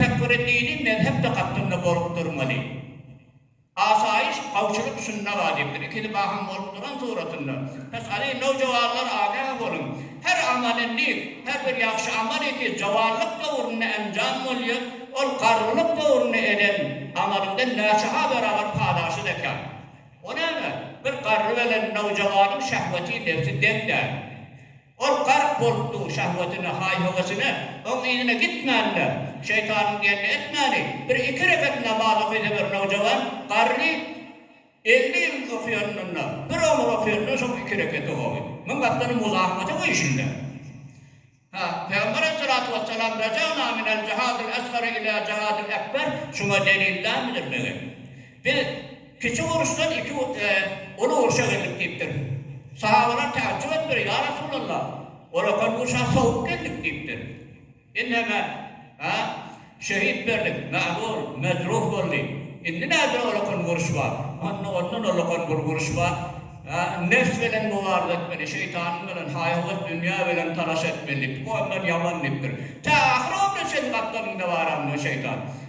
Tefekküri dini mezhep dakatdynda bolup durmaly. Asaýyş, howpçulyk şunda wajypdyr. Ikili bahym bolup duran suratynda, Pysgaly nowjuwanlar agah boluň! Her amalylik, her bir ýagşy amal eki juwanlyk döwründe enjam bolýar, ol garrylyk döwründe eden amalyňdan näçe-ha beraber paýlaşyt ekän. O näme, bir garry bilen nowjuwanyň şehweti nebsi deň däl. Ol gark bolup dur şahwetine, haý-höwesine, oň yzyna gitmänler. Şeýtanyň diýenini etmäni, bir iki rekat namaz okysa bir nowjawan garry elli ýyl okýanynda, bir omur okýanynda şoň iki rekat okagy. Muň aslynda muzahamaty bu işinde. Ha, Pygamber aleyhissalatu wessalam Rejagna minel jihadil esgari ilâ jihadil ekber şuňa delil dälmidir, megen? Biz, Kiçi uruşdan iki uly urşa geldik diýipdir. Sahabalar täjjüp edipdir, Ýa Resulalla, olakan urşa sowup geldik diýipdir. Inheme, a, şehit berdik, mähur, mejruh boldy. Indi nädür olakan uruş bar. Onda ondan olakan bir uruş bar. A, nefs bilen mubaryza etmeli, şeýtanyň bilen, haý-höwes, dünýe bilen talaş etmeli diýipdir. Bu ondan ýaman diýipdir. Tä ahyr ömrüne çenli gapdalynda bar onda şeýtan.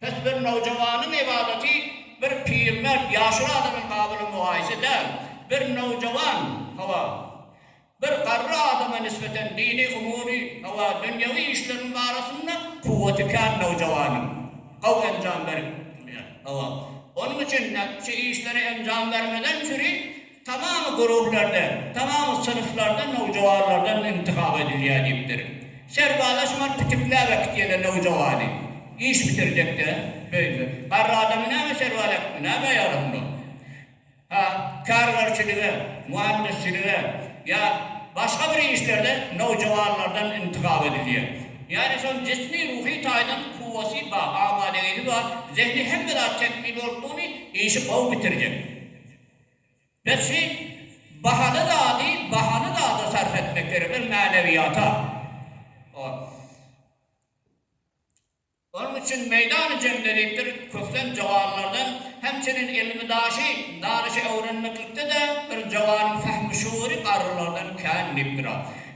Pes bir nowjawanyň ybadaty bir pirmert ýaşuly adamyň gabyly mugaýysy däl. Bir nowjawan, hawa, bir garry adama nisbeten dini umury, hawa, dünýewi işleriň barasynda kuwwaty kän nowjawanyň gowy enjam berip bilýär, hawa. Onuň üçin şu işleri enjam bermeden çüri Tamamy gururlardan, tamamy synflardan, nowjawanlardan intihap edilýär diýipdir. Serbazlar şuňa pitikläp äkitýärler nowjawany. Iş bitirjek-de, beýle. Garry adamy näme serbaz äkitdi, näme ýaly onda? Ha, kärgerçilige, muhandisçilige ýa başga bir işlerde nowjawanlardan intihap edilýär. Ýagny şonuň jismi, ruhy taýdan kuwwaty bar, amadegisi bar, zehni hemme zat tekmil bolupdygyny, işi gowy bitirjek. Biz hiç bahaly zady bahaly zada sarp etmek gerek, biz mänewiýata. Onuň üçin meýdany jemledipdir, kösen joganlardan hem çenli elimi daşy, dalaşy öwrenmeklikde-de bir joganyň fahmi şuury garrylardan kän diýipdir-a.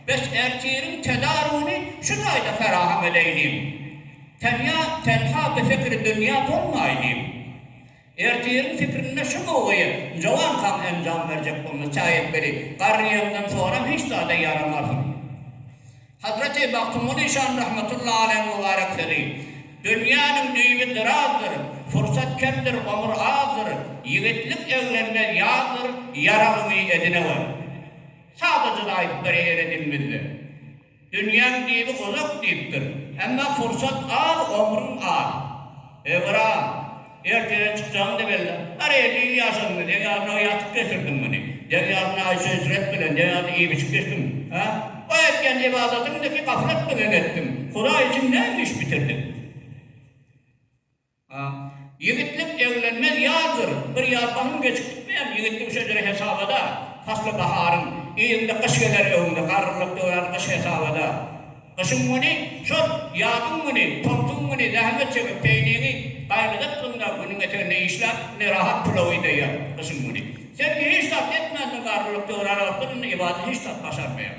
Bes ertiriň tedarugyny şu taýda feraham edeýliň. Tenýa, tenha bi fikri dünýä bolmaýlyň. Ertiriň pikirinde şu gowgaýa Njowam han enjam berjek bolmaz, çaý etmeli. Garryýemden soram hiç zada ýaramarsyň. Hazreti Magtymguly şan rahmetullahi aleýhiň mübarek sözi, Dünýäniň düýbi dyrazdyr, pursat kemdir, omur azdyr, ýigitlik eglenmez ýazdyr, ýaragyňy edin-ewer. Sadaja-da aýdyp beräýer-ä dilimiz-de. Dünýäň dibi uzak diýipdir. Emma pursat az, ömrüň az. Ömür-aa, ertire çykjagyň-da belli. Har elli ýyl ýaşadyňmy? Deň ýazyna ýatyp geçirdiň muny. Deň ýazyna aýşy yşret bilen, deň ýazyna iýip-içip geçdiň. Hä? Bu etýän ybadatyňdaky gaflatmy geň etdiň? Hudaý üçin näme iş bitirdiň? A. Ýigitlik eglenmez ýazdyr, bir ýaz onuň geçip gitmeýär. Ýigitligiň şejeri hesabada, pasly baharyň, yzyňda gyş geler öňüňde, garrylyk döwran gyş hesabada. Gyşyň güni, şol, ýazyň güni, tomsuň güni zähmet çekip, peýniňi gaýgydatlygyňda günüň eteginde işläp, ne rahat pulaw ideýär, gyşyň güni. Sen hiç zat etmändiň, garrylyk döwrana otlananda, ibada hiç zat başarmaýaň.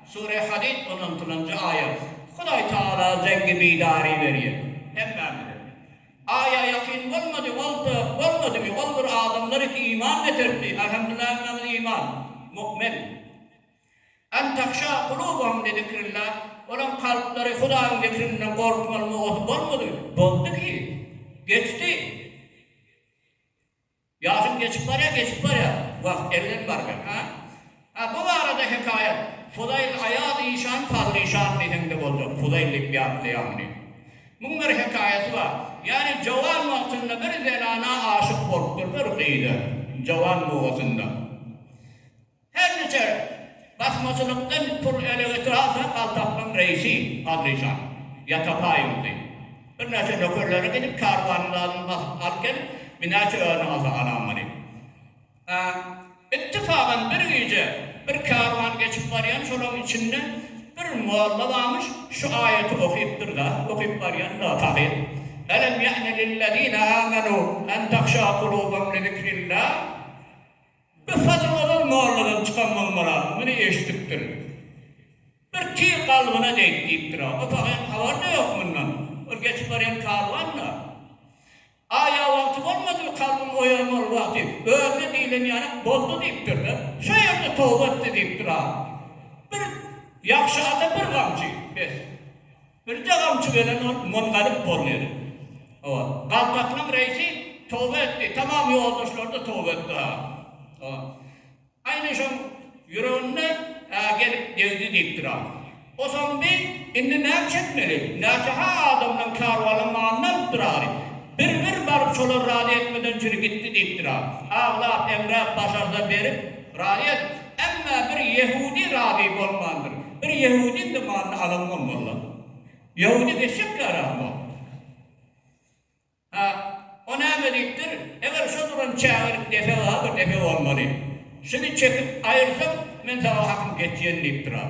Sure Hadid on altynjy aýat. Hudaý Tagala zeňňi bidary berýär. Hemmämize. Aýa ýakyn bolmady, bolsa, bolmadymy, ol bir adamlar iki iman getiripdi, Alhamdullah hemmämiz iman, mu'min. An tahşâ kulubuhum li zikrillâh, olaň kalplary Hudaýyň zikrinden gorkmaly mogasy bolmady, boldy ki, geçdi. Ýaşym geçip barýar, geçip barýar. Wagt elden barýar. Ha? Ha, bu barada hekaýat. Fuzaýl aýaz işan, fazl işan diýseň-de boljak. Fuzaýl diýip ýatlaýarmy diýip. Muň bir hekaýasy bar. Ýagny jowan wagtynda bir zenana aşyk bolupdyr, bir gyza. Jowan mugasynda. Her niçe basmaçylykdan pul ele getir alsa, galtaklaň reisi Adlyşan, Ýatapaý uly, birnäçe nökerleri gidip kärwanyň zadyny basyp alyp gelip, binäçe özüne alsa alamaly. Hä, ittifagam bir gije bir kärwan geçip barýan, şolaň içinde bir molla barmyş, şu aýaty okypdyr-da, okyp barýan-da, tahyr, Elem ýa'ne lillezine amenu en tahşa kulubahum lizikrillah. Bir hadymy ol molladan çykan bolmaram, muny eşidipdirin. Bir tir kalbyna degdi diýipdir-ä. O pahyryň habaryna ýok mundan. Ol geçip barýan karwan-da. A ýa wagty bolmadymy kalbym oýanmaly wagty, özüne diýlen ýaly boldy diýipdir-de. Şo ýerde toba etdi diýipdir-ä. Bir ýagşy ata bir gamçy, bes. Birje gamçy belen ol mungalyp bolmady. Hawa. Galtakynyň reisi toba etdi. Tamam ýoldaşlary-da toba etdi. Hawa. Aýna şoň ýüreginde gelip degdi diýipdir. Osoň bi indi näçe etmeli? Näçe-ha adamdan kärwanyň manyny alypdyr ary. Bir-bir baryp şolar razy etmeden çyry gitdi diýipdir. Aglap-eňräp başarda berip Raýat, Emma bir ýehudi razy bolmandyr. Bir ýehudiň de malyny alamok molla. Ýehudi geçjek ýaram ýokdur. Ha, o näme diýipdir, Eger şo duran çägelik depe bar, bir depe bolmaly. Şuny çekip aýyrsaň, men saňa hakym geçýän diýipdir a.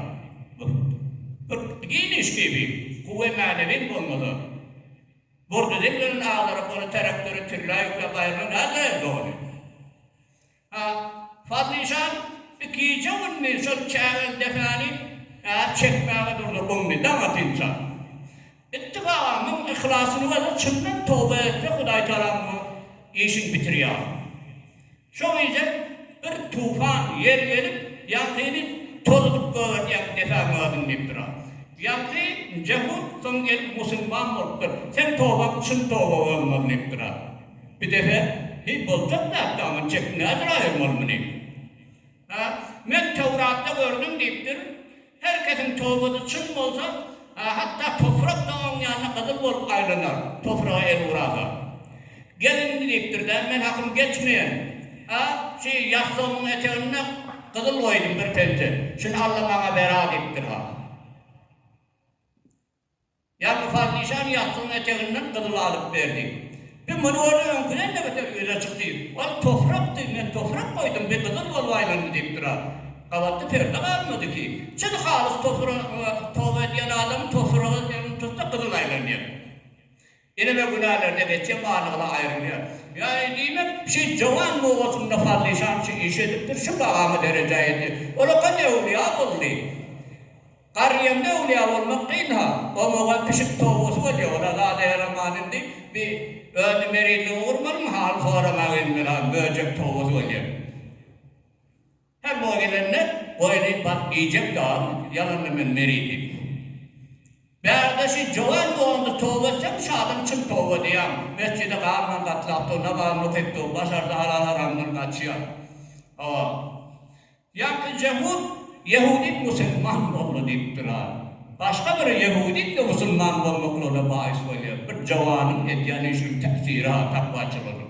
Bu bir giň iş diýip, kuwwe mänewiň bolmasa, burdy deňlenen agdaryp, ony traktora tirlä ýükläp aýyrmak nädogry dogany. A. Fazlyjan ikije günni şol çägel depani äp çekmäge durdy, gumdy. Daň atynça. Itdi gaga müň yhlasyny berse çyndan toba etse Hudaýtagala muňa işiň bitir ýaly. Şo gije bir tufan ýel gelip ýaňkyny tozudyp gögertýän depä möa diňlipdir. A. Ýaňky nje hut soň gelip musulman bolupdyr. Seň tobaň çyn toba bolmaz diýipdir. A. Bir defe, Heý, boljak zat da, muny çekip nädür aýyrmaly muny? Ha, men Töwratda gördüm diýipdir, Her kesiň tobasy çyn bolsa, ha, hatda toprak-da oň ýanyna gyzyl bolup aýlanar, topraga el urasa. Gel indi diýipdir-de, men hakym geçmeýän, ha, şi ýassygymyň eteginde gyzyl goýdum bir penje, şuny al-da maňa ber-a diýipdir-ha. Ýaňky Parnyşan ýatgynyň eteginden gyzyl alyp berdi. Bi muny gördi, öňküden-de beter ýüze çykdy. Ol toprakdy, men toprak goýdum, bi gyzyl bolup aýlandy diýip durar. Gabatda perde galmady ki, çyn halys topraga toba edýän adam topraga elini tutsa gyzyl aýlanýar. Eneme günälerde geçýän barlygyna aýrylýar. Ýagny diýmek, şi jowan nobatynda Fazlyşan şi işi edipdir, şi bagamy derejä ýetdi. Ol okan öwlüýa boldy. Garryýemde öwlüýa bolmak kyn-ha. Oňa-oňa pişik towusy bolýa, ol-a zada ýaraman indi. Bi öni merizligiňi gurmalyň, hal soramak indi bir-a möjek towusy bolýa. Her goý gelende goýny baryp iýjek ýalymy siz ýalanda men meri diýip. Bärde şi jowan dogandy toba etsem şi adam çyn toba diýýäň mesjide garman gatlap dur namazyny okyp dur başarsa halal haramdan gaçýar hawa ýaňky jehud ýehudit musilman boldy diýip durar başga biri ýehudit we musilman bolmaklygyna baýys bolýar bir jowanyň edýän işiniň täsiri ha takwaçylygynyň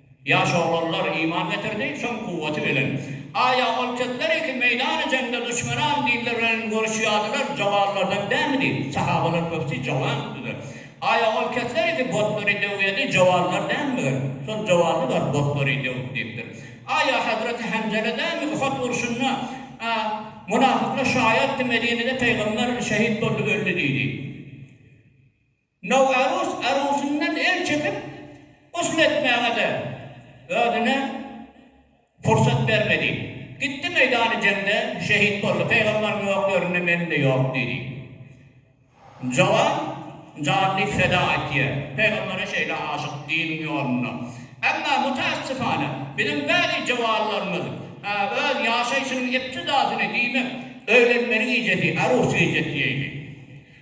Ýaş oglanlar iman getirdi, soň kuwwaty bilen. Aýa ol kezleri ki meýdany jeňde duşmanam diller bilen görüşýärdiler, jowanlardan dälmidi? Sahabalar köpüsi jowan gitdiler. Aýa ol kezleri ki botlary döwýärdi, jowanlar dälmiger? Şol jowanly bar botlary döwüp diýipdir. Aýa hazreti Hanzala dälmi Uhud urşunda munafyklar şaýatdy Medinede peýgamber şehit boldy öldi diýdi. Nowarus arusyndan el çekip, gusl etmäge-de özüne pursat bermedi. Gitdi meýdany jeňde şehit boldy. Pegamberiň ýoklarynda mende ýok diýdi. Jowan janyny feda etýär. Pegambere şeýle aşyk diniň ýolunda. Emma mutaassyfana, biziň bäzi jowanlarymyz öz ýaşaýşynyň iptidasyny, diýmek, öýlenmeli gijesi, arus gijesi diýeýli.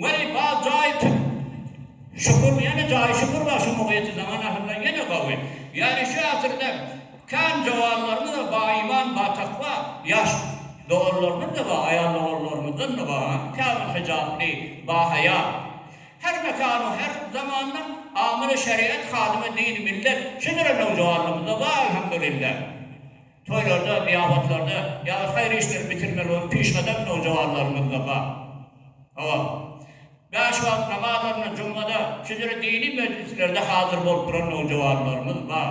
Weý bal jaýy tut şukur ýene jaýy şukur bar şu mugyty zaman ahyrlar ýene gawy ýary şu asyrda kän jowanlarymyz bar ba iman ba takwa ýaş doganlarymyz da bar aýal doganlarymyzdan da bar käbir hijaply ba haýa her mekanu her zamanda amyly şeriat hadymy dini millet şudur nowjowanlarymyzda bar elhamdulillah. Toýlarda, zyýabatlarda ýa-da haýyr işleri bitirmeli bolup pişgadam nowjuwanlarymyzda bar. Hawa, bäş wagt namazlarynda, jumada, şeýle-de dini mejlislerde hazyr bolup duran nowjuwanlarymyz bar.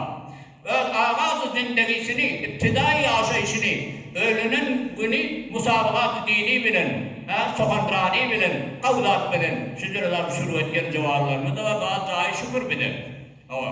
Öz agaz-y zindegisini, ibtidaýy ýaşaýşyny, öýlenen güni musabagat-y dini bilen, hä, sohonrani bilen, gawzat bilen şeýle-de alyp şuruw etýän juwanlarymyz-da bar, bar jaýy şükür bize. Hawa.